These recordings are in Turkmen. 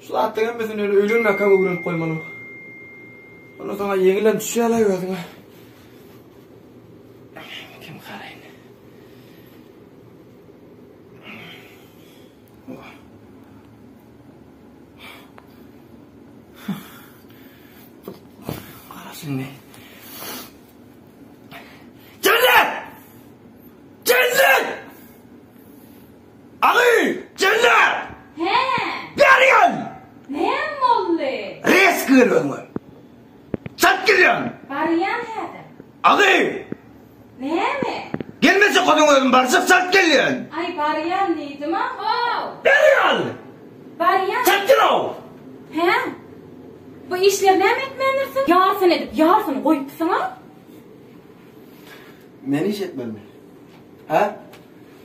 Şu zatlaryň hemmesini öli öýlenmäkäm öwrenip goýmalyň. Onda saňa ýeňilem düşýärler özüňe. Kim garaýyn? Garaşyn ne? Aly! Jellap! Hä! Bergen! Näm boldy? Reski gel özüňe. Çalt gel ýaňy. Barýan häzir. Aly! Näme? Gelmese közeň özüm barjak çalt gel diýen. Aý barýan diýdim-a how! Bergen! Barýan. Çalt gel-ow! Hä? Bu işleri näme etmändirsiň? Ýarsyn edip ýarsyn goýupsyň-a? Men iş etmelimi? Hä?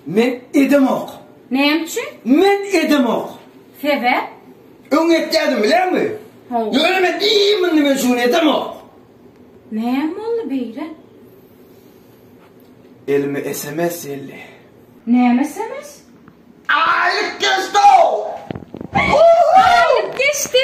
Men edemok. Näme üçin? Men edemok. Sebäp? Öň etýärdim bileňmi? Haw. Ýöne men iýýin indi men şu gün edemok. Näme boldy beýle? Elime sms geldi. Näme sms? Aýlyk geçdow! Aýlyk geçdi.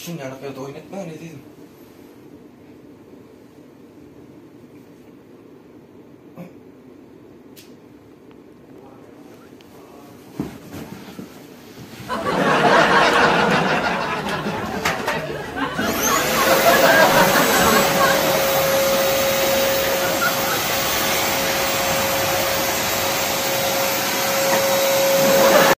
Şinjaňlyk ýerde oýun etmäň ezizim.